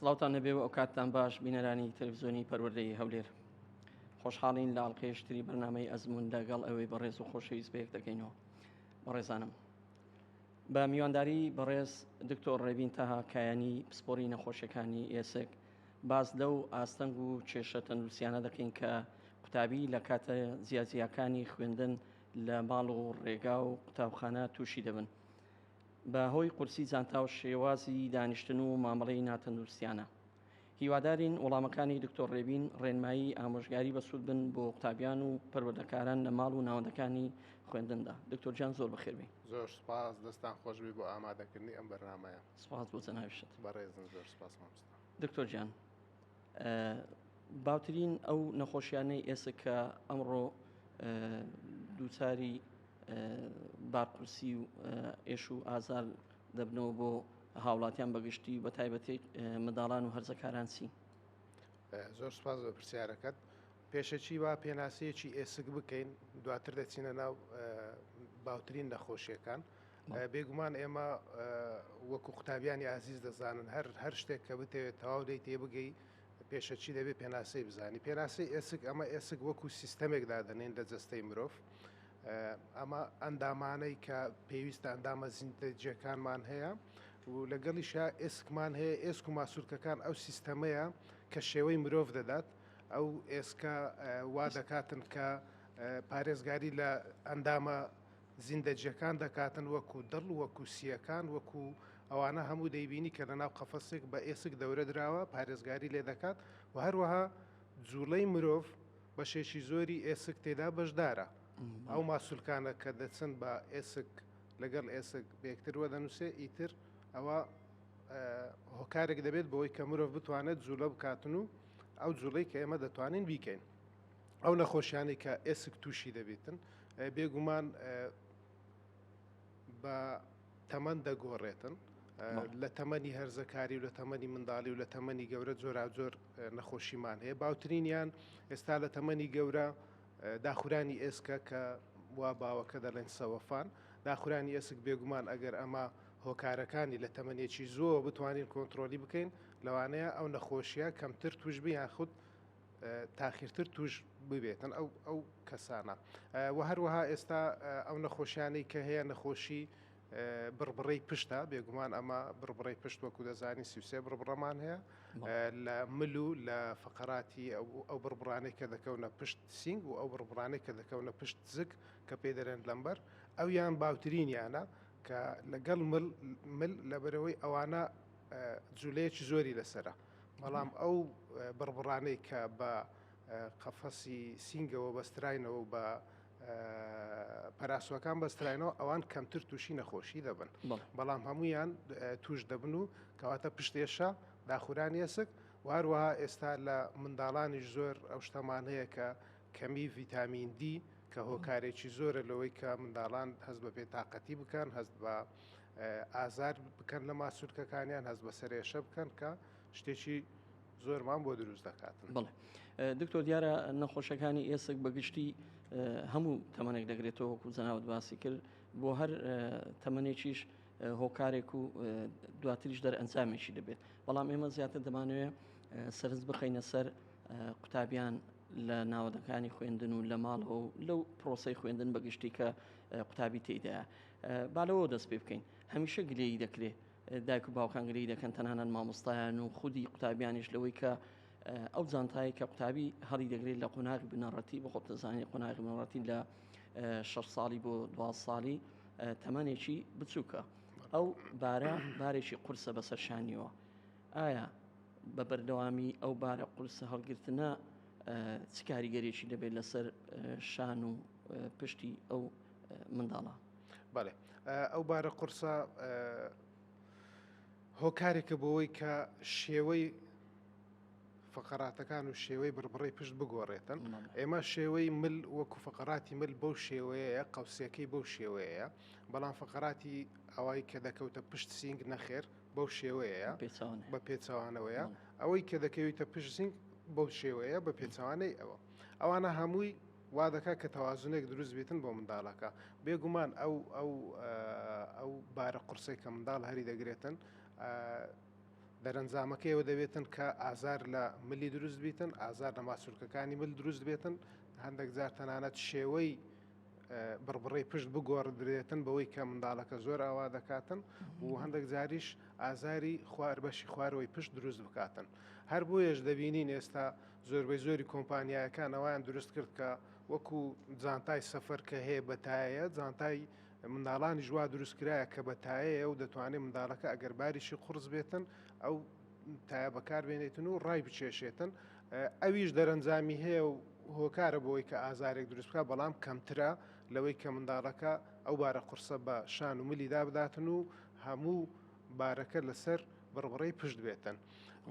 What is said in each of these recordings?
سڵاوتان نەبێ و ئەو کاتتان باش بینەرانی تەلەڤزیۆنی پەروەردەی هەولێر خۆشحاڵین لە ئاڵلقێشتری بەرنمەی ئەزمون لەگەڵ ئەوەی بەڕێز و خۆشەویست بەیەک دەکەینەوە بەڕێزانم بە میوانداری بەڕێز دکتۆر ڕێبین تەها کایانی پسپۆری نەخۆشیەکانی ئێسک باس لەو ئاستەنگ و کێشە تەندروستیانە دەکەین کە قوتابی لە کاتە جیاجیاکانی خوێندن لە ماڵ و ڕێگا و قوتابخانە تووشی دەبن بە هۆی قورسی جانتا و شێوازی دانیشتن و مامەڵەی ناتەندروستیانە هیوادارین وەڵامەکانی دکتۆر ڕێبین ڕێنمایی ئامۆژگاری بەسوود بن بۆ قوتابیان و پەروەردەکاران لە ماڵ و ناوەندەکانی خوێندندا دکتۆر جان زۆر بەخێبی زۆر سپاس دەستان خۆشبی بۆ ئامادەکردنی ئەم بەرنمەیە سپاس بۆ جەناویشت بەڕێزن زۆر سپاس مامست دکتۆر گیان باوترین ئەو نەخۆشیانەی ئێسک کە ئەمڕۆ دووچاری بارقورسی و ئێش و ئازار دەبنەوە بۆ هاوڵاتیان بەگشتی بە تایبەتی منداڵان و هەرزەکاران چین زۆر سپاس بە پرسیارەکەت پێشەچی با پێناسەیەکی ئێسک بکەین دواتر دەچینە ناو باوترین نەخۆشیەکان بێگومان ئێمە وەکو قوتابیانی ئازیز دەزانن هەر هەر شتێک کە بتەوێت تەواو دەی تێبگەی پێشەچی دەبێت پێناسەی بزانی پێناسەی ئێسک ئەمە ئێسک وەکو سیستەمێک دادەنین لە جەستەی مرۆڤ ئەمە ئەندامانەی کە پێویستە ئەندامە زیندەجیەکانمان هەیە و لەگەڵیشە ئێسکمان هەیە ئێسک و ماسوولکەکان ئەو سیستەمەیە کە شێوەی مرۆڤ دەدات ئەو ئێسکە وا دەکاتن کە پارێزگاری لە ئەندامە زیندەجیەکان دەکاتن وەکو دڵ وەکو سیەکان وەکو ئەوانە هەموو دەیبینی کە لەناو قەفەسێک بە ئێسک دەورە دراوە پارێزگاری لێ دەکات وە هەروەها جوڵەی مرۆڤ بەشێکی زۆری ئێسک تێدا بەشدارە ئەو ماسولکانە کە دەچن بە ئێسک لەگەڵ ئێسک بەیەکتر وەدەنوسێ ئیتر ئەوە هۆکارێک دەبێت بەوەی کە مرۆڤ بتوانێت جوڵە بکاتن و ئەو جوڵەی کە ئێمە دەتوانین بیکەین. ئەو نەخۆشیانەی کە ئێسک تووشی دەبێتن بێگومان بە تەمەند دەگۆڕێتن لە تەمەنی هەرزەکاری و لە تەمەنی منداڵی و لە تەمەنی گەورە جۆراجۆر نەخۆشیمان هەیە باوترینیان ئێستا لە تەمەنی گەورە داخورانی ئێسکە کە وا باوەکە دەڵێن سەوەفان داخورانی ئێسک بێگومان ئەگەر ئەمە هۆکارەکانی لە تەمەنێکی زۆر بتوانین کۆنتترۆلی بکەین لەوانەیە ئەو نەخۆشیە کەمتر توش بیان خودت تاخیرتر توش ببێتن ئەو ئەو کەسانە و هەروەها ئێستا ئەو نەخۆشیانەی کە هەیە نەخۆشی بڕبڕەی پشتە بێگومان ئەمە بڕبڕی پشت وەکو دەزانی سیوسێ بڕبڕەمان هەیە لە مل و لە فقراتی ئەو بڕبڕانەی کە دەکەونە پشت سینگ و ئەو بڕبڕانەی کە دەکەونە پشت زگ کە پێ دەرێن لەمبەر ئەو یان باوترینیانە کە لەگەڵ مل لەبەرەوەی ئەوانە جولەیەکی زۆری لەسرە. بەڵام ئەو بڕبڕانەی کە بە قەفەسی سینگەوە بەستراینەوە و بە پەراسوەکان بەستراینەوە ئەوان کەمتر تووشی نەخۆشی دەبن بەڵام هەمویان توش دەبن و کەواتە پشتێشە داخورانی ئێسک واروەها ئێستا لە منداڵانیش زۆر ئەو شتەمان هەیە کە کەمی ڤیتامین دی کە هۆکارێکی زۆرە لەوەی کە منداڵان هەست بە بێتاقەتی بکەن هەست بە ئازار بکەن لە ماسولکەکانیان هەست بە سەرێشە بکەن کە شتێکی زۆرمان بۆ دروست دەکات بڵێ دکتۆر دیارە نەخۆشەکانی ئێسک بەگشتی هەموو تەمەنێک دەگرێتەوە وەکو جەناوت باسی کرد بۆ هەر تەمەێکیش هۆکارێک و دواتریش دەر ئەنجامێکی دەبێت بەڵام ئێمە زیاتر دەمانوێت سەرز بخینە سەر قوتابیان لە ناوەدەکانی خوێندن و لە ماڵەوە و لەو پرۆسی خوێندن بەگشتی کە قوتابی تێدا با لەوەوە دەست پێ بکەین هەمیشە گلەیی دەکرێ دایک و باوکان گلەیی دەکەن تەنانەت مامۆستایان و خودی قوتابیانیش لەوەی کە ئەو جانتایی کە قوتابی هەڵی دەگرێت لە قۆناغی بنەڕەتی بە خۆت دەزانانی قۆناغی بنەڕەتی لە شە ساڵی بۆ دو ساڵی تەمەێکی بچووکە ئەو بارە بارێکی قورسە بەسەر شانیەوە ئایا بە بەردەوامی ئەو بارە قورسە هەڵگرتنە چ کاریگەرێکی دەبێت لەسەر شان و پشتی ئەو منداڵە بەێ ئەو بارە قورسە هۆکارێکە بۆەوەی کە شێوەی فقراتەکان و شێوەی بڕبڕی پشت بگۆڕێتن ئێمە شێوەی مل وەکو فقراتی مل بەو شێوەیە قەوسەکەی بەو شێوەیە بەڵام فقراتی ئەوەی کە دەکەوتە پشت سینگ نەخێر بەو شێوەیە بە پێچوانەوەیە ئەوەی کە دەکەویتە پشت سینگ بەو شێوەیە بە پێچوانەی ئەوە ئەوانە هەمووی وا دەکات کە تەوازنێک دروست بیتن بۆ منداڵەکە. بێ گومان ئەو ئەو ئەو بارە قورسەی کە منداڵ هەری دەگرێتن دەرەنجامەکەی ئەوە دەبێتن کە ئازار لە ملی دروست بیتن، ئازار لە ماسولکەکانی مل دروست بێتن، هەندێک جار تەنانەت شێوەی بڕبڕەی پشت بگۆڕدرێتن بەوەی کە منداڵەکە زۆر ئاوا دەکاتن و هەندێک جاریش ئازاری خوار بەشی خوارەوەی پشت دروست بکاتن. هەر بۆیەش دەبینین ئێستا زۆربەی زۆری کۆمپانیایەکان ئەوەیان دروست کرد کە وەکو جانتای سەفەر کە هەیە بە تایەیە جانتای منداڵانیش وا دروست کرایە کە بە تایەیە و دەتوانێت منداڵەکە ئەگەر باریشی قورس بێتن ئەو تایە بەکاربێنێتن و ڕای بچێشێتن ئەویش دەرەنجامی هەیە و هۆکارە بۆی کە ئازارێک دروست بکە بەڵام کەمترە لەوەی کە منداڵەکە ئەو بارە قورسە بە شان و ملیدا بداتن و هەموو بارەکە لەسەر بڕبڕەی پشت بێتن.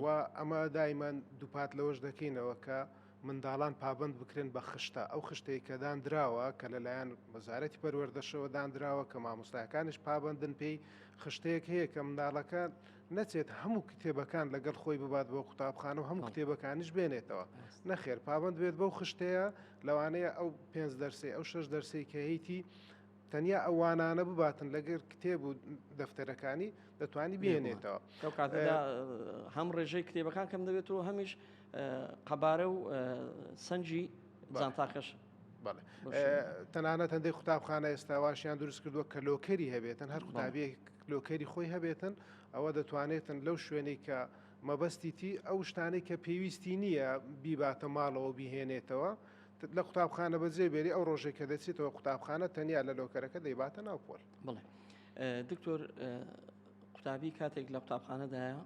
و ئەمە دایمان دووپات لەوەش دەکەینەوە کە منداڵان پابەند بکرێن بە خشتە ئەو خشتەی کە داندراوە کە لەلایەن وەزارەتی پەروەردەشەوە داندراوە کە مامۆستایەکانیش پابەندن پێی خشتەیەک هەیە کە منداڵەکە نەچێت هەموو کتێبەکان لەگەڵ خۆی ببات بۆ قوتابخانە و هەموو کتێبەکانیش بێنێتەوە نەخێر پابند بێت بەو خشتەیە لەوانەیە ئەو پێنج دەرسی ئەو شش دەرسی کە هەیتی تەنیا ئەو وانانە بباتن لەگەر کتێب و دەفتەرەکانی دەتوانانی بێنێتەوە ئەو کاتەدا هەم ڕێژەی کتێبەکان کەم دەبێت و هەمیش قەبارە و سنجی جانتاکەش بەڵێ تەنانەت هەندێک قوتابخانە ئێستاواشیان دروست کردووە کە لۆکەری هەبێتن هەر قوتابی لۆکەری خۆی هەبێتن ئەوە دەتوانێتن لەو شوێنێک کە مەبەستیتی ئەو شتانەی کە پێویستی نییە بیباتە ماڵەوە بهێنێتەوە لە قوتابخانە بەجێ بێری ئەو ڕۆژێک کە دەچێتەوە قوتابخانە تەنیا لە لۆکەرەکە دەیباتە ناو پۆل بڵێ دکتۆر قوتابی کاتێک لە قوتابخانەدایە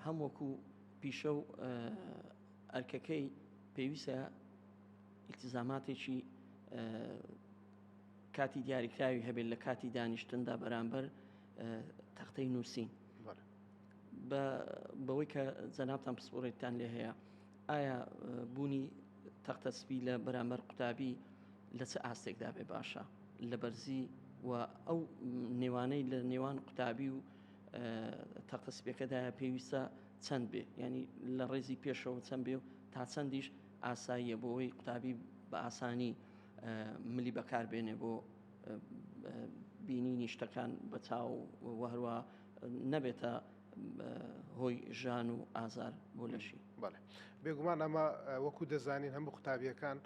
هەم وەکو پیشە و ئەرکەکەی پێویستە ئیلتزاماتێکی کاتی دیاریکراوی هەبێت لە کاتی دانیشتندا بەرامبەر تەختەی نووسین بەوەی کە جەنابان پسپۆرێتتان لێ هەیە ئایا بوونی تەختە سپی لە بەرامبەر قوتابی لە چ ئاستێکدا بێ باشە لە بەرزی و ئەو نێوانەی لە نێوان قوتابی و تەختە سپیەکەدا پێویستە چەند بێ ینی لە ڕێزی پێشەوە چەند بێ و تا چەندیش ئاساییە بۆەوەی قوتابی بە ئاسانی ملی بەکار بێنێ بۆ بینینی شتەکان بە چاو وهروە نەبێتە هۆی ژان و ئازار بۆ لەشی بەڵێ بێگومان ئەمە وەکو دەزانین هەموو قوتابیەکان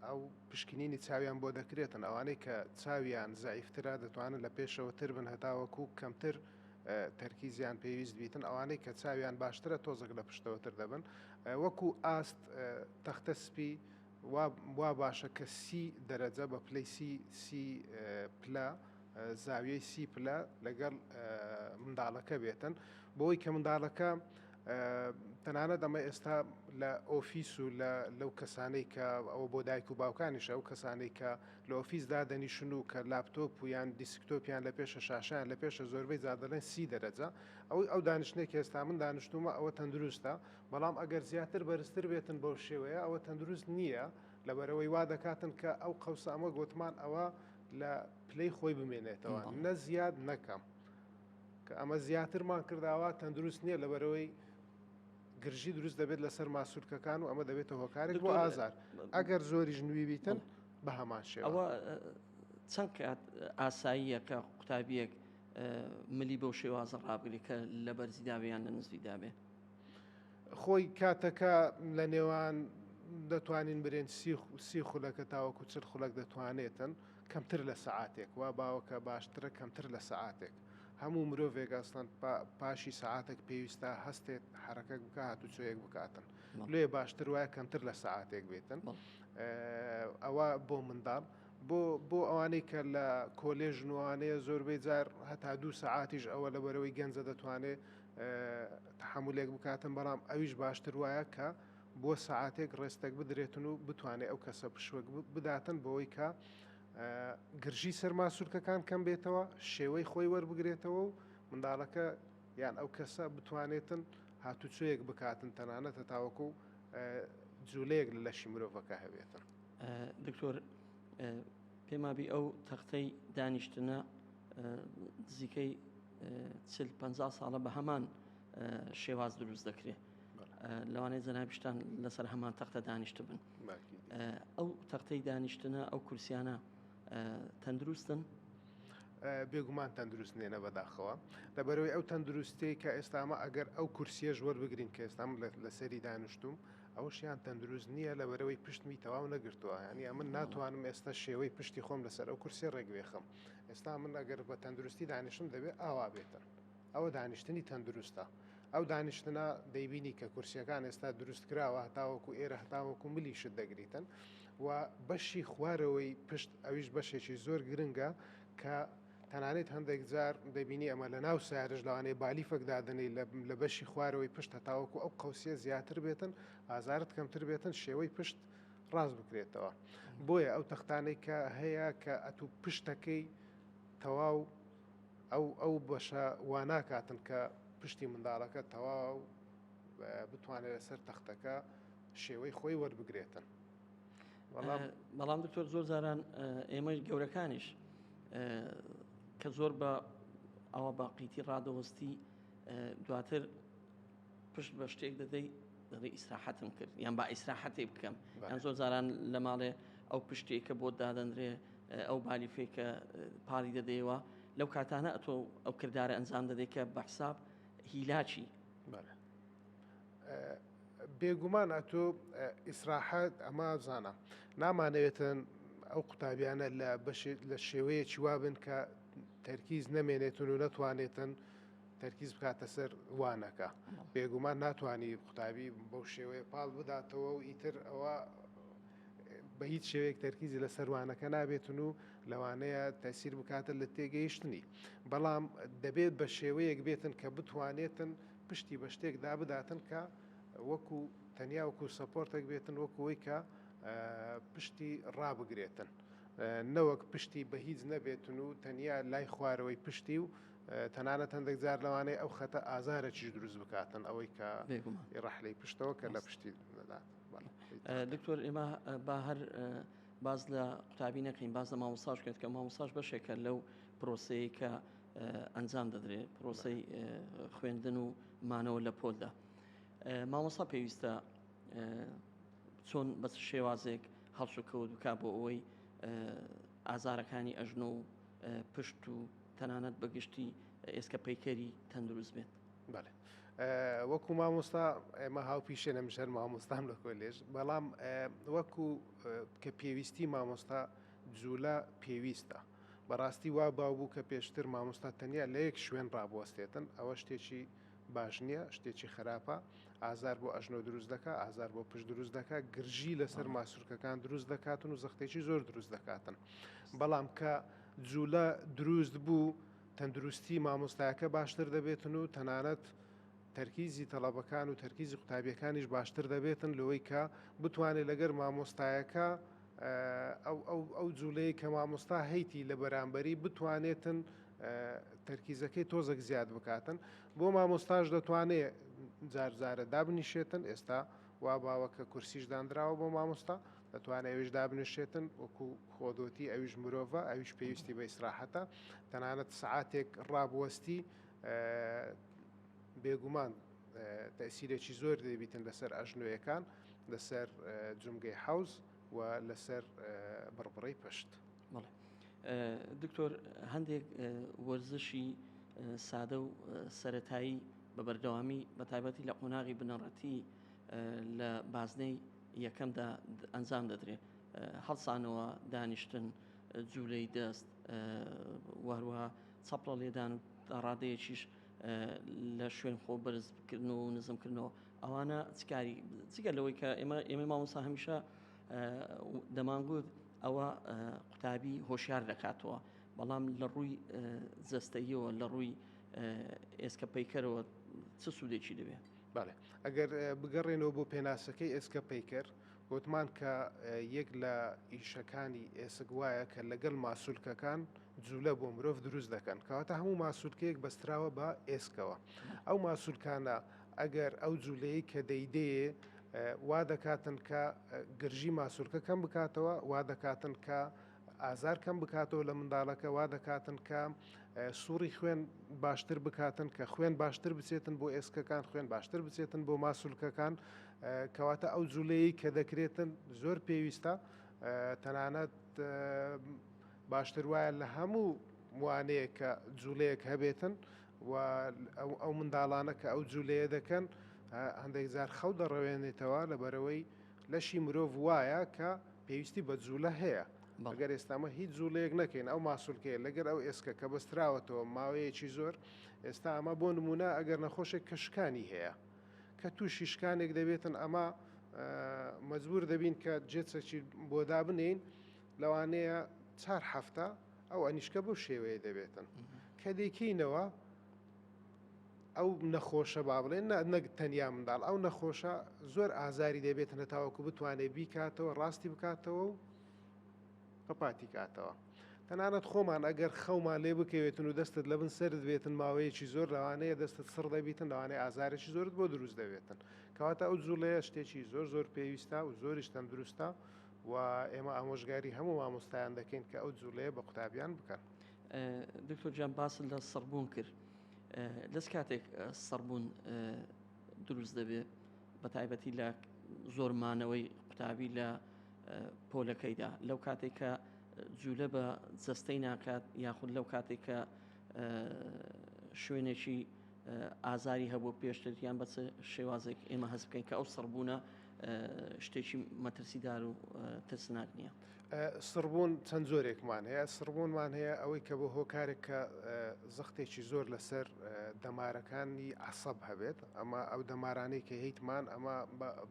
ئەو پشکنینی چاویان بۆ دەکرێتن ئەوانەی کە چاویان زعیفترا دەتوانن لە پێشەوە تر بن هەتاوەکو کەمتر تەرکیزیان پێویست بیتن ئەوانەی کە چاویان باشترە تۆزەک لە پشتەوەتر دەبن وەکو ئاست تەختە سپی وا باشە کە سی دەرەجە بە پلەی سی سی پلە زاویەی سی پلە لەگەڵ منداڵەکە بێتن بۆی کە منداڵەکە تەنانەت ئەمە ئێستا لە ئۆفیس و لەو کەسانەی کە ئەوە بۆ دایک و باوکانیش ئەو کەسانەی کە لە ئۆفیس دادەنیشن و کە لاپتۆپ و یان دیسکتۆپیان لە پێشە شاشیان لە پێشە زۆربەی زادەڵێن سی دەرەجە ئەوەی ئەو دانیشتێک هێستا من دانیشتومە ئەوە تەندروستە بەڵام ئەگەر زیاتر بەرزتر بێتن بەو شێوەیە ئەوە تەندروست نییە لەبەرەوەی وا دەکاتن کە ئەو قەوسە ئەمە گوتمان ئەوە لە پلەی خۆی بمێنێتەوە نە زیاد نەکەم کە ئەمە زیاترمان کرداوە تەندروست نییە لەبەرەوەی گرژی دروست دەبێت لەسەر ماسوولکەکان و ئەمە دەبێتە هۆکارێک بۆ ئازار ئەگەر زۆری ژنوی بیتن بە هەمان شێوە چەند کات ئاساییە کە قوتابیەک ملی بەو شێوازە ڕابگری کە لە بەرزی داوێیان لە نزوی دابێ خۆی کاتەکە لە نێوان دەتوانین برێن سی خولەکە تاوەکو چل خولەک دەتوانێتن کەمتر لە سەعاتێک وا باوەکە باشترە کەمتر لە سەعاتێک هەموو مرۆڤێک ئەسڵەن پاشی سەعاتێک پێویستە هەستێت حرەکەک بکە هاتوچۆیەک بکاتن لێ باشتر وایە کەمتر لە سەعاتێک بێتن ئەوە بۆ منداڵ بۆ بۆ ئەوانەی کە لە کۆلێژ نوانەیە زۆربەی جار هەتا دوو سەعاتیش ئەوە لە بەرەوەی گەنجە دەتوانێت تەحەمولێک بکاتن بەڵام ئەویش باشتر وایە کە بۆ سەعاتێک ڕێستەک بدرێتن و بتوانێت ئەو کەسە پشوەک بداتن بۆی کە گرژی سەرما سوورکەکان کەم بێتەوە شێوەی خۆی وەربگرێتەوە و منداڵەکە یان ئەو کەسە بتوانێتن هاتوچۆیەک بکاتن تەنانەتە تاوەکو و جوولەیەک لە لەشی مرۆڤەکە هەبێتن دکتۆر پێمابی ئەو تەختەی دانیشتنە نزیکەی چل پەنجا ساڵە بە هەمان شێواز دروست دەکرێت لەوانەیە جەنابشتان لەسەر هەمان تەختە دانیشت بن ئەو تەختەی دانیشتنە ئەو کورسیانە تەندروستن بێگومان تەندروست نێنە بەداخەوە لەبەرەوەی ئەو تەندروستەی کە ئێستامە ئەگەر ئەو کورسیەش وەربگرین کە ئێستام لەسەری دانیشتوم ئەوشیان تەندروست نییە لەبەرەوەی پشتمی تەواو نەگرتووە ینی ئەمن ناتوانم ئێستا شێوەی پشتی خۆم لەسەر ئەو کورسی ڕێگوێخم ئێستا من ئەگەر بە تەندروستی دانیشتم دەبێت ئاوا بێتن ئەوە دانیشتنی تەندروستە ئەو دانیشتنە دەیبینی کە کورسیەکان ئێستا دروست کراوە هەتاوەکو ئێرە هەتاوەکو ملی شت دەگریتن و بەشی خوارەوەی پشت ئەویش بەشێکی زۆر گرنگە کە تەنانێت هەندێک جار دەبینی ئەمە لە ناو سارش لەوانەیە بالی فەکدادنەی لە بەشی خوارەوەی پشت هەتاوەکو ئەو قوسیە زیاتر بێتن ئازارت کەمتر بێتن شێوەی پشت ڕاست بکرێتەوە بۆیە ئەو تەختانەی کە هەیە کە ئەتوو پشتەکەی تەواو ئەو ئەو بەشە واناکاتن کە پشتی منداڵەکە تەواو بتوانێت لەسەر تەختەکە شێوەی خۆی وەربگرێتن بەڵام دکتۆر زۆر زاران ئێمەی گەورەکانیش کە زۆر بە ئەوە باقیتی ڕادەوەستی دواتر پشت بە شتێک دەدەی دەڵی ئیسراحەتم کرد یان با ئیسراحەتی بکەم یان زۆر جاران لە ماڵێ ئەو پشتێکە بۆ دادەندرێ ئەو بالیفێکە پاڵی دەدەیەوە لەو کاتانە ئەتۆ ئەو کردارە ئەنجام دەدەی کە بە حساب هیلاچی بێگومان ئەتۆ ئیسراحەت ئەمە زانە نامانەوێتن ئەو قوتابیانە لە بەشێت لە شێوەیە چیوابن کە تەرکیز نەمێنێتن و نەتوانێتن تەرکیز بکاتە سەر وانەکە بێگومان ناتوانانی قوتابی بەو شێوەیە پاڵ بداتەوە و ئیتر ئەوە بە هیچ شێوەیەک تەرکیزی لە سەروانەکە نابێتن و لەوانەیە تەسیر بکاتە لە تێگەیشتنی بەڵام دەبێت بە شێوەیەک بێتن کە بتوانێتن پشتی بە شتێکدا بداتن کە وەکو تەنیا وەکو سەپۆرتێک بێتن وەکوەوەی کە پشتی ڕابگرێتن. نەوەک پشتی بە هیچ نەبێتن و تەنیا لای خوارەوەی پشتی و تەنانەت هەندێک جار لەوانەیە ئەو خەتە ئازارێکیش دروست بکاتن ئەوەی کە ڕەحلەی پشتەوە کە لە پشتی دەدات دکتۆر ئێمە با هەر باز لە قوتابی نەکەین باز لە مامۆساش کرد کە مامۆساش بەشێکە لەو پرۆسەیە کە ئەنجام دەدرێت پرۆسی خوێندن و مانەوە لە پۆلدا مامۆسا پێویستە چۆن بە شێوازێک هەڵسوکەوت بک بۆ ئەوەی ئازارەکانی ئەژنۆ و پشت و تەنانەت بە گشتی ئێسکە پەیکەری تەندروست بێت. بەێ وەکو مامۆستا ئێمە هاوپیشێ نەمژەر مامۆستام لە کۆلێژ بەڵام وەکو کە پێویستی مامۆستا جوولە پێویستە بەڕاستی وا باو بوو کە پێشتر مامۆستا تەنیا لە یەک شوێن ڕابوەستێتن ئەوە شتێکی باش نیە شتێکی خەراپە ئازار بۆ ئەژنۆ دروست دەکا ئازار بۆ پشت دروست دەکا گرژی لەسەر ماسوورکەکان دروست دەکاتن و زەختێکی زۆر دروست دەکاتن بەڵام کە جوولە دروست بوو تەندروستی مامۆستایەکە باشتر دەبێتن و تەنانەت تەرکیزی تەڵەبەکان و تەرکیزی قوتابیەکانیش باشتر دەبێتن لەوەی کە بتوانێت لەگەر مامۆستایەکە ئەو ئەو ئەو جولەی کە مامۆستا هەیتی لە بەرامبەری بتوانێتن تەرکیزەکەی تۆزەک زیاد بکاتن بۆ مامۆستاش دەتوانێ جارجارە دابنیشێتن ئێستا وا باوە کە کورسیش دانراوە بۆ مامۆستا دەتوانێت ئەوش دابنیشێتن وەکو خۆدۆتی ئەویش مرۆڤە ئەویش پێویستی بە ئیسراحەتە تەنانەت سعاتێک ڕابوەستی بێگومان تەئسیرێکی زۆر دەبیتن لەسەر ئەژنۆیەکان لەسەر جومگەی حەوز و لەسەر بڕبڕەی پشت. دکتۆر هەندێک وەرزشی سادە و سەتایی بە بەردەوامی بە تایبەتی لە قۆناغی بنەڕەتی لە بازنەی یەکەمدا ئەنجام دەدرێت هەڵسانەوە دانیشتن جوولەی دەست وهروە چەپڵە لێدان و ڕادەیەکیش لە شوێن خۆ بەرز بکردن و نزم کردنەوە ئەوانە چکاری جگە لەوەی کە ئێمە ئێمە مامۆسا هەمیشە دەمانگوت ئەوە قوتابی هۆشیار دەکاتەوە بەڵام لە ڕووی جەستەیەوە لە ڕووی ئێسکە پیکەرەوە چ سوودێکی دەبێت بەڵێ ئەگەر بگەڕێنەوە بۆ پێناسەکەی ئێسکە پیکەر وتمان کە یەک لە ئیشەکانی ئێسک وایە کە لەگەڵ ماسولکەکان جولە بۆ مرۆڤ دروست دەکەن کەواتە هەموو ماسولکەیەک بەستراوە بە ئێسکەوە ئەو ماسولکانە ئەگەر ئەو جوولەیە کە دەیدەیە وا دەکاتن کە گرژی ماسولکە کەم بکاتەوە وا دەکاتن کە ئازار کەم بکاتەوە لە منداڵەکە وا دەکاتن کە سوڕی خوێن باشتر بکاتن کە خوێن باشتر بچێتن بۆ ئێسکەکان خوێن باشتر بچێتن بۆ ماسولکەکان کەواتە ئەو جوولەیە کە دەکرێتن زۆر پێویستە تەنانەت باشتر وایە لە هەموو وانەیەک کە جولەیەک هەبێتن و ئەو منداڵانە کە ئەو جولەیە دەکەن هەندێک جار خەو دەڕەوێنێتەوە لەبەرەوەی لەشی مرۆڤ وایە کە پێویستی بە جولە هەیە بەگەر ئێستامە هیچ جوڵەیەک نەکەین ئەو ماسولکەیە لەگەر ئەو ئێسکە کە بەستراوەتەوە ماوەیەکی زۆر ئێستا ئەمە بۆ نمونە ئەگەر نەخۆشێک کە شکانی هەیە کە تووشی شکانێک دەبێتن ئەمە مەجبور دەبین کە جێچەکی بۆدا بنین لەوانەیە چار هەفتە ئەو ئەنیشکە بەو شێوەیە دەبێتن کە دەیکەینەوە ئەو نەخۆشە با بڵێن نەک تەنیا منداڵ ئەو نەخۆشە زۆر ئازاری دەبێت نەتاوەکو بتوانێت بیکاتەوە ڕاستی بکاتەوە و پەپاتی کاتەوە تەنانەت خۆمان ئەگەر خەومان لێ بکەوێتن و دەستت لە بن سرد بێتن ماوەیەکی زۆر لەوانەیە دەستت سڕ دەبیتن لەوانەیە ئازارێکی زۆرت بۆ دروست دەبێتن کەواتە ئەو جوڵەیە شتێکی زۆر زۆر پێویستە و زۆریش تەندروستە و ئێمە ئامۆژگاری هەموو مامۆستایان دەکەین کە ئەو جوولەیە بە قوتابیان بکەن. دکتۆر گیان باست لە سڕبوون کرد دەست کاتێک سڕبوون دروست دەبێت بە تایبەتی لە زۆرمانەوەی قوتابی لە پۆلەکەیدا لەو کاتێک کە جوولە بە جەستەی ناکات یاخود لەو کاتێک کە شوێنێکی ئازاری هەبوو پێشتر یان بەچ شێوازێک ئێمە هەست بکەین کە ئەو سڕبوونە شتێکی مەترسیدار و ترسناک نییە. سڕبوون چەند جۆرێکمان هەیە سڕبوونمان هەیە ئەوەی کە بۆ هۆکارێک کە زەختێکی زۆر لەسەر دەمارەکانی عسەب هەبێت ئەمە ئەو دەمارانەی کە هیتمان ئەمە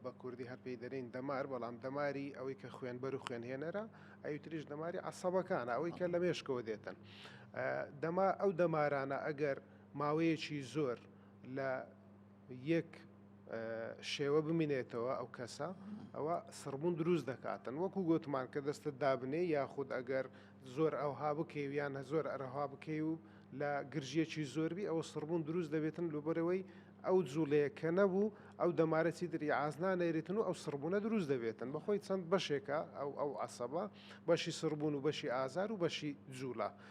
بە کوردی هەر پێی دەرین دەمار بەڵام دەماری ئەوەی کە خوێنبەر و خوێنهێنەرە ئەوتریش دەماری عسەبەکانە ئەوەی کە لە مێشکەوە دێتن دەما ئەو دەمارانە ئەگەر ماوەیەکی زۆر لە یەک شێوە بمینێتەوە ئەو کەسە ئەوە سڕبوون دروست دەکاتن وەکو گوتمان کە دەستت دابنێ یاخود ئەگەر زۆر ئەوها بکەویان زۆر ئەرەها بکەی و لە گرژیەکی زۆربی ئەو سڕبوون دروست دەبێتن لوبەرەوەی ئەو جوڵەیە کە نەبوو ئەو دەمارەتی دری ئازنا نەێتن و ئەو سڕبوونە دروست دەبێتن بەخۆی چەند بەشێکە ئەو ئەو عسەبە بەشی سڕبوون و بەشی ئازار و بەشی جوولە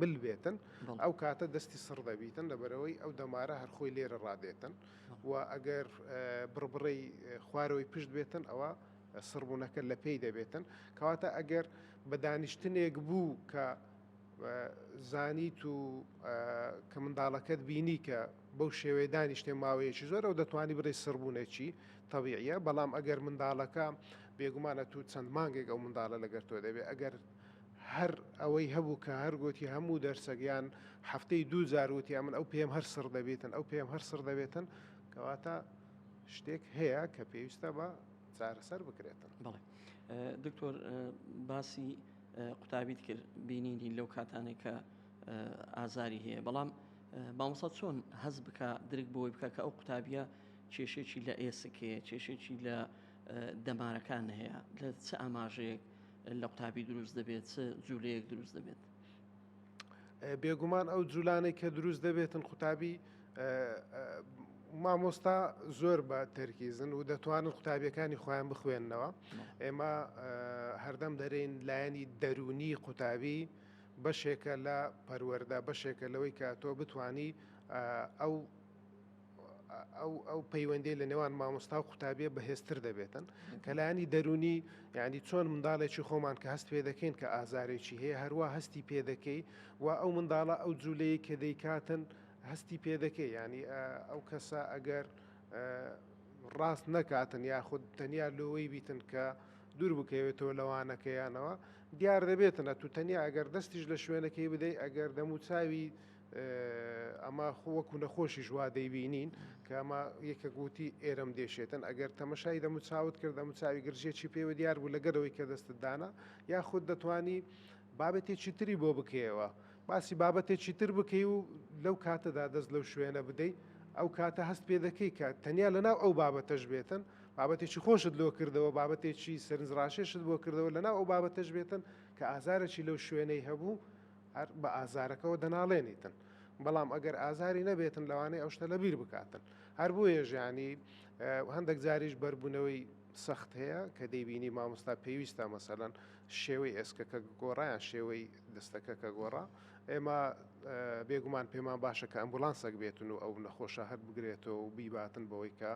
مل بێتن ئەو کاتە دەستی سڕ دەبیتن لەبەرەوەی ئەو دەمارە هەرخۆی لێرە ڕادێتن و ئەگەر بڕبڕی خوارەوەی پشت بێتن ئەوە سڕبوونەکە لە پێی دەبێتن کەواتە ئەگەر بە دانیشتنێک بوو کە زانیت و کە منداڵەکەت بینی کە بەو شێوەیە دانیشتێ ماوەیەکی زۆر ئەو دەتوانانی بڕی سڕبوونێکی تەویە بەڵام ئەگەر منداڵەکە بێگومانە تو چەند مانگێک ئەو منداڵە لەگەر تۆ دەبێت ئەگەر هەر ئەوەی هەبوو کە هەر گۆتی هەموو دەرسەک یان هەفتەی دوو جار وتی ئەمن ئەو پێم هەر سڕ دەبێتن ئەو پێم هەر سڕ دەبێتن کەواتە شتێک هەیە کە پێویستە بە چارەسەر بکرێتن بڵێ دکتۆر باسی قوتابیت کرد بینینی لەو کاتانێک کە ئازاری هەیە بەڵام باوسە چۆن هەز بکە درک بۆی بکە کە ئەو قوتابیە کێشێکی لە ئێسکێ کێشێکی لە دەمارەکان هەیە لە چ ئاماژەیەک لە قوتابی دروست دەبێت چ جوولەیەک دروست دەبێت بێگومان ئەو جوولانەی کە دروست دەبێتن قوتابی مامۆستا زۆر بە تەرکیزن و دەتوانن قوتابیەکانی خۆیان بخوێندنەوە ئێمە هەردەم دەرین لایەنی دەرونی قوتابی بەشێکە لە پەروەەردە بەشێکە لەوەی کە تۆ بتانی ئەو ئەو پەیوەندی لە نێوان مامۆستا و قوتابیە بەهێزتر دەبێتن کەلانی دەرونی یعنی چۆن منداڵێکی خۆمان کە هەست پێ دەکەین کە ئازارێکی هەیە هەروە هەستی پێ دەکەی و ئەو منداڵە ئەو جوولەیە کە دەیکاتن هەستی پێ دەکەی ینی ئەو کەسە ئەگەر ڕاست نەکاتن یاخود تەنیا لۆی بیتن کە دوور بکەوێتەوە لەوانەکەیانەوە دیار دەبێتن ئە تو تەنیا ئەگەر دەستیش لە شوێنەکەی بدەی ئەگەر دەموچاوی ئەمە وەکو نەخۆشیش وا دەیبینین کە ئەمە یەکە گوتی ئێرەم دێشێتن ئەگەر تەمەشای دەمو چاوت کرد دەمو چاوی گرژێکی پێوە دیار بوو لەگەرەوەی کە دەستت دانا یاخود دەتانی بابەتێکی تری بۆ بکەیەوە باسی بابەتێکی تر بکەی و لەو کاتەدا دەست لەو شوێنە بدەیت ئەو کاتە هەست پێ دەکەی کە تەنیا لەناو ئەو بابەتەش بێتن بابەتێکی خۆشت لۆ کردەوە بابەتێکی سەرنجڕاشێشت بۆ کردەوە لەناو ئەو بابەتەش بێتن کە ئازارەی لەو شوێنەی هەبوو هەر بە ئازارەکەوە دەناڵێنیتن. بەڵام ئەگەر ئازاری نەبێتن لەوانەیە ئەو شتە لەبیر بکاتن. هەر بۆیە ژیانی هەندێک جاریش بەربوونەوەی سەخت هەیە کە دەیبینی مامۆستا پێویستە مەسەلەن شێوەی ئێسکەکە گۆڕایان شێوەی دەستەکە کە گۆڕا ئێمە بێگومان پێمان باشە کە ئەمبولانسەک بێتن و ئەو نەخۆشە هەر بگرێتەوە و بیباتن بەوەی کە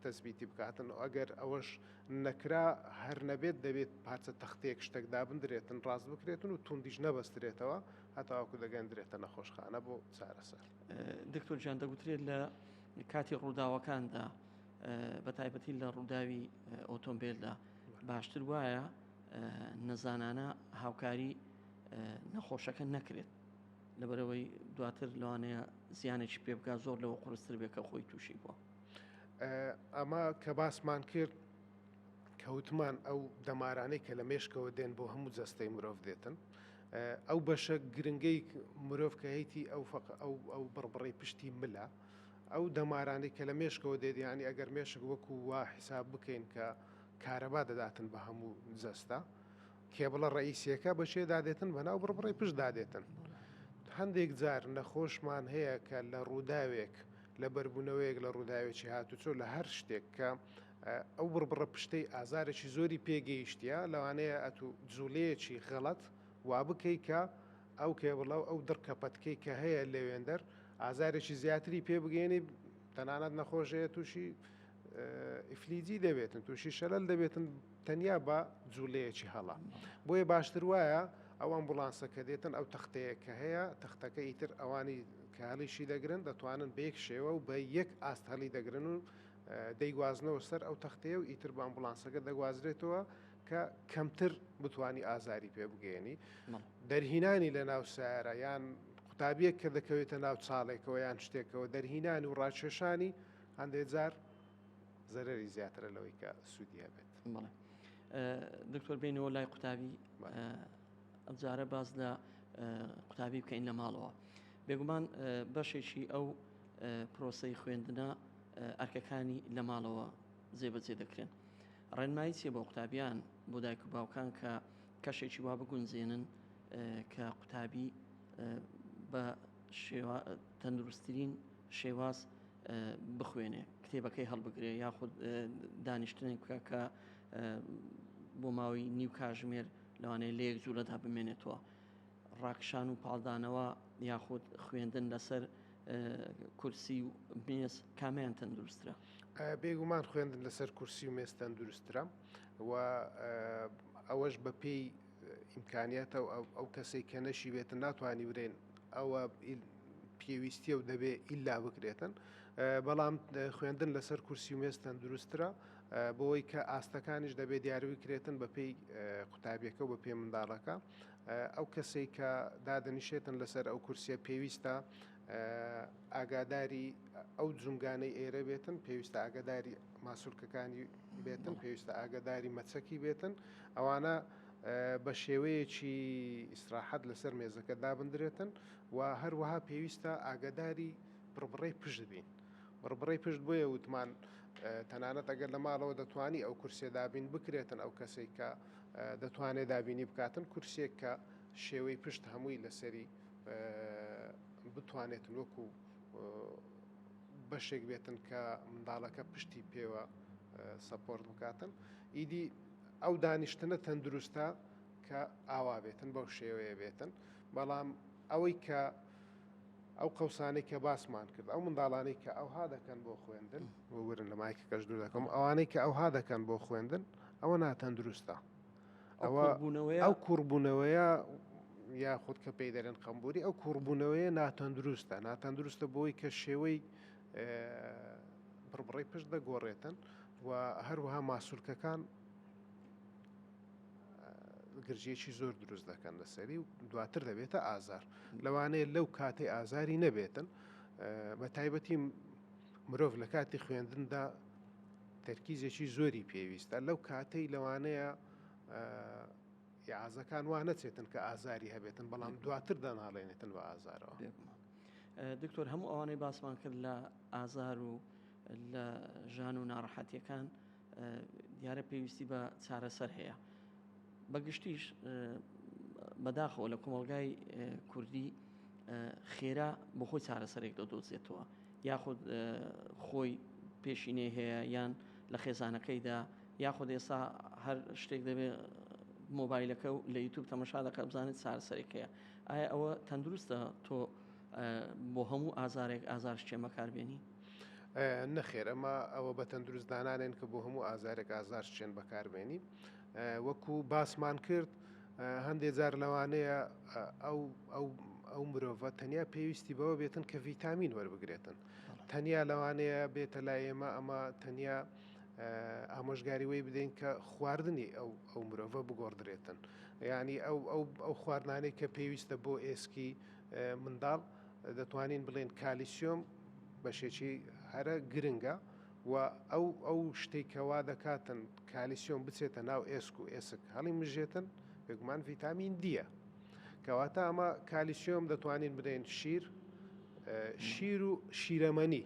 تەسبیتی بکاتن و ئەگەر ئەوەش نەکرا، هەر نەبێت دەبێت پارچە تەختەیەک شتەک دابندرێتن ڕاست بکرێتن و توندیش نەبەسترێتەوە هەتاوەکو دەگەندرێتە نەخۆشخانە بۆ چارەسەر. دکتۆر گیان دەگوترێت لە کاتی ڕووداوەکاندا بە تایبەتی لە ڕووداوی ئۆتۆمبیلدا باشتر وایە نەزانانە هاوکاری نەخۆشەکە نەکرێت لەبەرەوەی دواتر لەوانەیە زیانێکی پێبگا زۆر لەوە قرستر بێکە خۆی تووشی بووە. ئەمە کە باسمان کرد کەوتمان ئەو دەمارانەی کە لە مێشکەوە دێن بۆ هەموو جەستەی مرۆڤ دێتن ئەو بەشە گرنگەی مرۆڤ کە هەیتی ئەو فق ئەو ئەو بڕبڕی پشتی ملە ئەو دەمارانی کە لە مێشکەوە دێدیانی ئەگەر مێشک وەکو وا حیساب بکەین کە کارەبا دەداتن بە هەموو جەستە کێبڵە ڕئیسیەکە بەشێدا دێتن بەناو بڕبڕی پشتدا دێتن هەندێک جار نەخۆشمان هەیە کە لە ڕووداوێک لە بەربوونەوەیەک لە ڕووداوێکی هاتووچۆ لە هەر شتێک کە ئەو بڕبڕە پشتەی ئازارێکی زۆری پێگەیشتە لەوانەیە ئەتو جوڵەیەکی غەڵەت وا بکەی کە ئەو کێبڵە و ئەو دڕکە پەتکەی کە هەیە لەوێندەر ئازارێکی زیاتری پێ بگەێنی تەنانەت نەخۆشەیە تووشی ئیفلیجی دەبێتن تووشی شەلل دەبێتن تەنیا بە جوولەیەکی هەڵە بۆیە باشتر وایە ئەو ئەمبولانسە کە دێتن ئەو تەختەیە کە هەیە تەختەکە ئیتر ئەوانی کە هەڵیشی دەگرن دەتوانن بەیەک شێوە و بە یەک ئاست هەڵی دەگرن و دەیگوازنەوە سەر ئەو تەختەیە و ئیتر بە ئەمبولانسەکە دەگوازرێتەوە کە کەمتر بتانی ئازاری پێ بگەێنی دەرهینانی لە ناو سارە یان قوتابیەک کە دەکەوێتە ناو چاڵێکەوە یان شتێکەوە دەرهینانی و ڕاکێشانی هەندێک جار زەرەری زیاترە لەوەی کە سوودی هەبێت بڵێ دکتۆر بینەوە لای قوتابی ئەمجارە باز لە قوتابی بکەین لە ماڵەوە بێگومان بەشێکی ئەو پرۆسی خوێندنە ئەرکەکانی لە ماڵەوە جێبەجێ دەکرێن ڕێنمایی چیە بۆ قوتابیان بۆ دایک و باوکان کە کەشێکی وا بگونجێنن کە قوتابی بە شێوە تەندروستترین شێواز بخوێنێ کتێبەکەی هەڵبگرێ یاخود دانیشتنێک بکە کە بۆ ماوەی نیو کاژمێر لەوانەیە لە یەک جوولەدا بمێنێتەوە ڕاکشان و پاڵدانەوە یاخود خوێندن لەسەر کورسی و مێز کامیان تەندروسترە بێگومان خوێندن لەسەر کورسی و مێز تەندروسترە و ئەوەش بە پێی ئیمکانیتە و ئەو کەسێک کە نەشیبێتن ناتوانانی برێن ئەوە پێویستیە و دەبێ ئیلا بکرێتن بەڵام خوێندن لەسەر کورسی و مێز تەندروسترە بۆی کە ئاستەکانیش دەبێت دیاروی کرێتن بە پێی قوتابیەکە و بە پێ منداڵەکە ئەو کەسێک کە دادنیشێتن لەسەر ئەو کورسیە پێویستە ئاگاداری ئەو جونگانەی ئێرە بێتن پێویستە ئاگداری ماسولکەکانی بێتن پێویستە ئاگداری مەچەکی بێتن ئەوانە بە شێوەیەکی ئیسراحەت لەسەر مێزەکە دابندرێتن و هەروەها پێویستە ئاگەداری بڕبڕەی پشت بین. بڕبڕەی پشت بۆیە وتمان تەنانەت ئەگەر لە ماڵەوە دەتوانی ئەو کورسێ دابین بکرێتن ئەو کەسێک کە دەتوانێت دابینی بکاتن کورسێک کە شێوەی پشت هەمووی لەسەری بتوانێت وەکو بەشێک بێتن کە منداڵەکە پشتی پێوە سەپۆرت بکاتن ئیدی ئەو دانیشتنە تەندروستە کە ئاوا بێتن بەو شێوەیە بێتن بەڵام ئەوەی کە ئەو قەوسانەی کە باسمان کرد ئەو منداڵانەی کە ئەوها دەکەن بۆ خوێندن وەگرن لە مایکە کەش دوور دەکەم ئەوانەی کە ئەوها دەکەن بۆ خوێندن ئەوە ناتەندروستە ئەوە بوونەوەی ئەو کوڕبوونەوەیە یا خودکە پێی دەرێن قمبوری ئەو کوڕبوونەوەیە ناتەندروستە ناتەندروستە بۆی کە شێوەی بڕبڕەی پشت دەگۆڕێتن و هەروەها ماسولکەکان گرژیەکی زۆر دروست دەکەن لەسەری و دواتر دەبێتە ئازار لەوانەیە لەو کاتی ئازاری نەبێتن بە تایبەتی مرۆڤ لە کاتی خوێندندا تەرکیزێکی زۆری پێویستە لەو کاتەی لەوانەیە یازەکان وا نەچێتن کە ئازاری هەبێتن بەڵام دواتر دەناڵێنێتن بە ئازارەوە. دکتۆر هەموو ئەوانەی باسمان کرد لە ئازار و لە ژان و ناڕەحەتیەکان دیارە پێویستی بە چارەسەر هەیە بەگشتیش بەداخەوە لە کۆمەلگای کوردی خێرا بۆ خۆی چارەسەرێک دەدۆزێتەوە یاخود خۆی پێشینەی هەیە یان لە خێزانەکەیدا یاخود ئێستا هەر شتێک دەبێت مۆبایلەکە و لە یوتوب تەمەشا دەکە بزانێت چارەسەرێک هەیە ئایا ئەوە تەندروستە تۆ بۆ هەموو ئازارێک ئازار شتێمەکار بێنی؟ نەخێر ئەمە ئەوە بە تەندروست دانانێن کە بۆ هەموو ئازارێک ئازار شتێن بەکاربێنی وەکو باسمان کرد. هەندێک جار لەوانەیە ئەو ئەو مرۆڤە تەنیا پێویستی بەوە بێتن کە ڤیتامین وەربگرێتن تەنیا لەوانەیە بێتە لای ئێمە ئەمە تەنیا ئامۆژگاری وەی بدەین کە خواردنی ئەو ئەو مرۆڤە بگۆڕدرێتن ینی ئەو ئەو خواردانەی کە پێویستە بۆ ئێسکی منداڵ دەتوانین بڵێن کالیسیۆم بەشێکی هەرە گرنگە و ئەو ئەو شتێکەوا دەکاتن کالیسیۆم بچێتە ناو ئێسک و ئێسک هەڵی مژێتن بێگومان ڤیتامین دیە کەواتە ئەمە کالیسیۆم دەتوانین بدەین شیر شیر و شیرەمەنی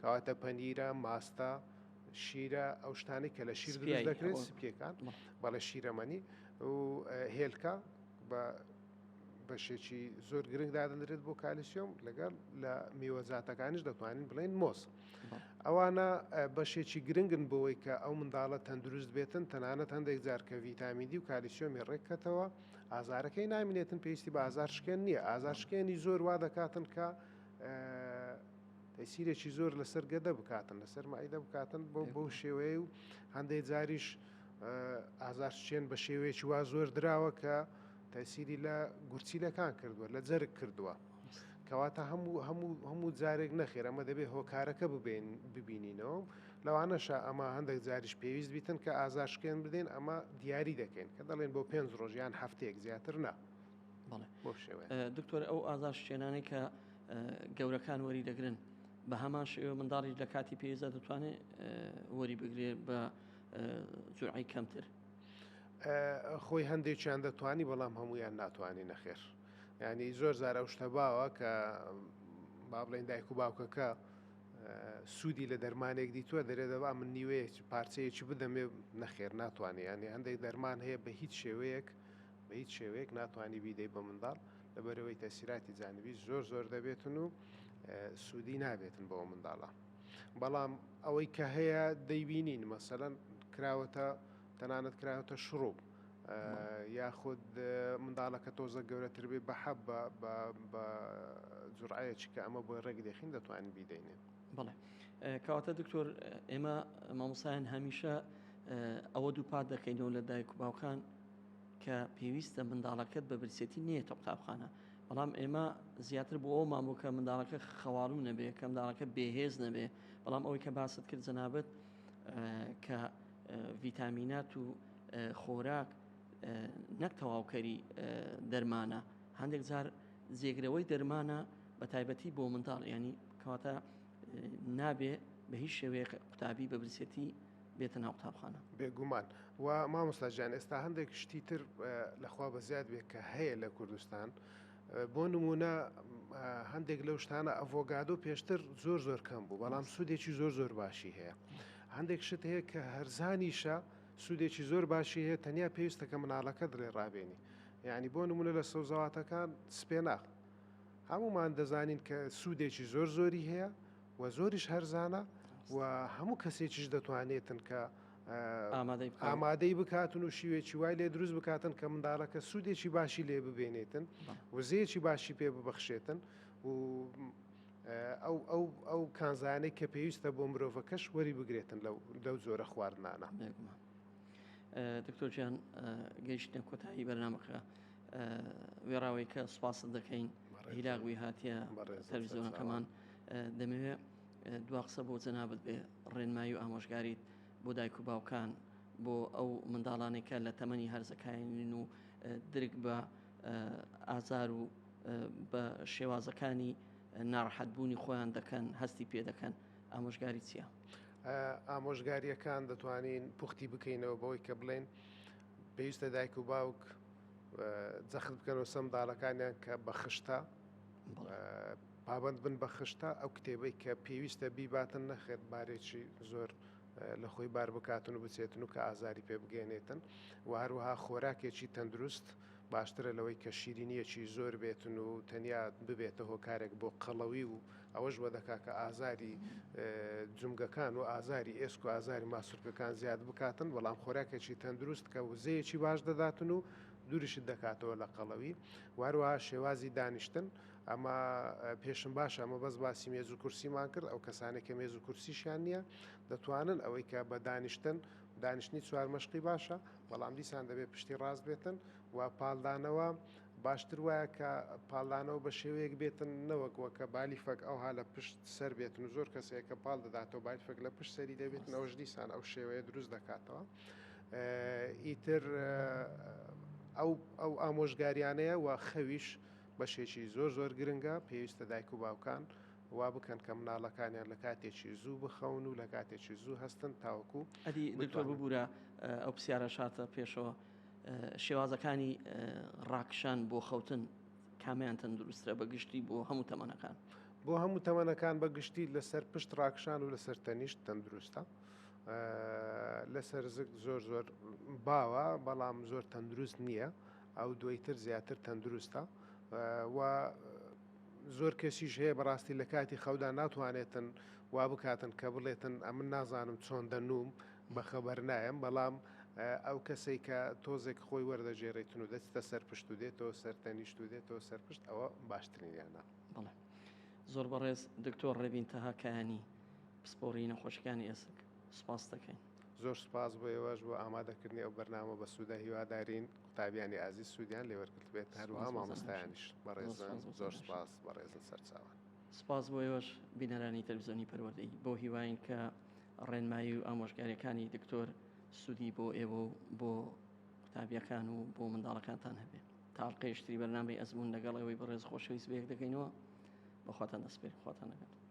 کەواتە پەنیرە، ماستە، شیرە، ئەو شتانەی کە لە شیر دروست دەکرێت سپیەکان بەڵێ شیرەمەنی و هێلکە بە بەشێکی زۆر گرنگ دادەنرێت بۆ کالیسیۆم لەگەڵ لە میوەزاتەکانیش دەتوانین بڵێن مۆز ئەوانە بەشێکی گرنگن بۆەوەی کە ئەو منداڵە تەندروست بێتن تەنانەت هەندێک جارکە ڤیتامیدی و کالیسیۆمی ڕێککەتەوە ئازارەکەی نامینێتن پێویستی بە ئازار شکێن نییە ئازار شکێنی زۆر وا دەکاتن کە تەیسیرێکی زۆر لەسەر گەدە بکاتن لەسەر مەعیدە بکاتن بۆ بەو شێوەیە و هەندێک جاریش ئازارچێن بە شێوەیەکی وا زۆر دراوە کە تەسیری لە گورچیلەکان کردووە لە جەرگ کردووە کەواتە هەموو هەموو هەموو جارێک نەخێر ئەمە دەبێ هۆکارەکە ببین ببینینەوە لەوانەشە ئەمە هەندێک جاریش پێویست بیتن کە ئازارشکێن بدەین ئەمە دیاری دەکەین کە دەڵێن بۆ پێنج ڕۆژیان هەفتەیەک زیاتر نا دکتۆر ئەو ئازار شتێنانەی کە گەورەکان وەری دەگرن بە هەمان شێوە منداڵیش لە کاتی پێزە دەتوانێت وەری بگرێت بە جوعی کەمتر خۆی هەندێکیان دەتوانی بەڵام هەمویان ناتوانانی نەخێر ینی زۆر زارە شتە باوە کە با بڵێن دایک و باوکەکە سوودی لە دەرمانێک دیتوە دەرێ دەبا من نیوەیە پارچەیەکی بدەمێ نەخێر ناتوانانی هەندێک دەرمان هەیە بە هیچ شێوەیەک بە هیچ شێوەیەک ناتوانی بیدەی بە منداڵ لەبەرەوەی تەسیراتی جانبی زۆر زۆر دەبێتن و سوودی نابێتن بەەوە منداڵە بەڵام ئەوەی کە هەیە دەیبینین مەسەەن کراوەتە تەنانەت کراوەتە شڕوب یاخود منداڵەکە تۆزە گەورەتر بێ بە حەب بە جوڕایە چکە ئەمە بۆی ڕێک دەخین دەتوانین بیدەینێ بڵێ کەواتە دکتۆر ئێمە مامۆسایان هەمیشە ئەوە دووپات دەکەینەوە لە دایک و باوکان کە پێویستە منداڵەکەت بە برسێتی نێیتە قوتابخانە، بەڵام ئێمە زیاتر بۆ ئەوەمان بوو کە منداڵەکە خەواڵوو نەبێ، کە منداڵەکە بێهێز نەبێ، بەڵام ئەوەی کە باست کرد جەنابت کە ڤیتامینات و خۆراک نەک تەواوکەری دەرمانە، هەندێک جار جێگرەوەی دەرمانە بە تایبەتی بۆ منداڵ، یانی کەواتە نابێ بە هیچ شێوەیەک قوتابی بە برسێتی بێتە ناو قوتابخانە. بێگومان و مامۆستا جان ئێستا هەندێک شتی تر لەخوا بەزیاد بێت کە هەیە لە کوردستان بۆ نمونە هەندێک لەو شتانە ئەڤۆگادۆ پێشتر زۆر زۆر کەم بوو بەڵام سوودێکی زۆر زۆر باشی هەیە هەندێک شت هەیە کە هەرزانیشە سوودێکی زۆر باشی هەیە تەنیا پێویستەکە مناڵەکە دڵێ ڕابێنی یعنی بۆ نمونە لە سەوزەواتەکان سپێناخ هەمومان دەزانین کە سوودێکی زۆر زۆری هەیە و زۆریش هەرزانە و هەموو کەسێکیش دەتوانێتن کە ئامادەی بکاتن و شیوێکی وای لێ دروست بکاتن کە منداڵەکە سوودێکی باشی لێ ببێنێتن وزەیەکی باشی پێ ببەخشێتن و ئەو ئەو ئەو کانزانەی کە پێویستە بۆ مرۆڤەکەش وەری بگرێتن لەو لەو جۆرە خواردنانە دکتۆرجان گەیشتە کۆتایی بەرنمەکە وێڕاوەیکە سپاست دەکەین هیلاگوی هااتە تەلویزیۆنەکەمان. دەمەوێ دوا قسە بۆ جەنابت بێ ڕێنمایی و ئامۆژگاریت بۆ دایک و باوکان بۆ ئەو منداڵانەی کە لە تەمەنی هەرزەکانین و درک بە ئازار و بە شێوازەکانی ناڕحەتبوونی خۆیان دەکەن هەستی پێ دەکەن ئامۆژگاری چییە؟ ئامۆژگاریەکان دەتوانین پوختی بکەینەوە بەوەی کە بڵێن پێویستە دایک و باوک جەخت بکەنەوە سەم داڵەکانیان کە بەخشتە پابەند بن بە خشتە ئەو کتێبەی کە پێویستە بیباتن نەخێر بارێکی زۆر لە خۆی بار بکاتن و بچێتن و کە ئازاری پێ بگەێنێتن و هەروەها خۆراکێکی تەندروست باشترە لەوەی کە شیرینیەکی زۆر بێتن و تەنیا ببێتە هۆکارێک بۆ قەڵەوی و ئەوەش وە دەکا کە ئازاری جمگەکان و ئازاری ئێسک و ئازاری ماسولکەکان زیاد بکاتن بەڵام خۆراکێکی تەندروست کە وزەیەکی باش دەداتن و دوریشت دەکاتەوە لە قەڵەوی واروها شێوازی دانیشتن و ئەمە پێشم باشە ئەمە بەس باسی مێز و کورسیمان کرد ئەو کەسانی کە مێز و کورسیشیان نییە دەتوانن ئەوەی کە بە دانیشتن دانیشتنی چوار مەشقی باشە بەڵام دیسان دەبێت پشتی ڕاست بێتن و پالدانەوە باشتر وایە کە پالدانەوە بە شێوەیەک بێتن نەوەک وەکە بالی فەک ئەوها لە پشت سەر بێتن و زۆر کەسەیە کە پاڵ دەداتەوە بای فەک لە پشت سەری دەبێتن ئەوش دیسان ئەو شێوەیە دروست دەکاتەوە ئیتر ئەو ئەو ئامۆژگاریانەیە و خەویش بەشێکی زۆر زۆر گرنگە، پێویستە دایک و باوکان وا بکەن کە مناڵەکانیان لە کاتێکی زوو بخەون و لە کاتێکی زوو هەستن تاوەکو ئەدی دکتۆر بتوانن. ببورە ئەو پسیارە شاتە پێشەوە شێوازەکانی ڕاکشان بۆ خەوتن کامیان تەندروسترە بە گشتی بۆ هەموو تەمەنەکان؟ بۆ هەموو تەمەنەکان بە گشتی لەسەر پشت ڕاکشان و لەسەر تەنیشت تەندروستە لەسەر زگ زۆر زۆر باوە بەڵام زۆر تەندروست نییە. ئەو دوەی تر زیاتر تەندروستە و زۆر کەسیش هەیە بەڕاستی لە کاتی خەودا ناتوانێتن وا بکاتن کە بڵێتن ئەمن نازانم چۆن دەنووم بەخەبەر نایم بەڵام ئەو کەسێک کە تۆزێک خۆی وەردەگێڕێتن و دەچتە سەرپشت و دێتەوە سەر تەنیشت و دێتەوە سەرپشت ئەوە باشترینیانە بڵێ زۆر بەڕێز دکتۆر ڕێبین تەهاکانی پسپۆری نەخۆشیەکانی ئێسک سپاس دەکەین. زۆر سوپاس بۆ ئێوەش بۆ ئامادەکردنی ئەو بەرنامە بەسوودە هیوادارین قوتابیانی ئازیز سوودیان لێ وەرگرتبێت هەروەها مامۆستایانیش بەڕێزن زۆر سوپاس بەڕێزن سەرچاوان. سوپاس بۆ ئێوەش بینەرانی تەلەفزیۆنی پەروەردەی بۆ هیواین کە ڕێنمایی و ئامۆژگاریەکانی دکتۆر سودی بۆ ئێوە و بۆ قوتابیەکان و بۆ منداڵەکانتان هەبێت تا ئەڵلقەیشتری بەرنامەی ئەزمون لەگەڵ ئێوەی بەڕێز خۆشەویست بەیەک دەکەینەوە بەخواتان دەسپێر خواتان لەگەڵ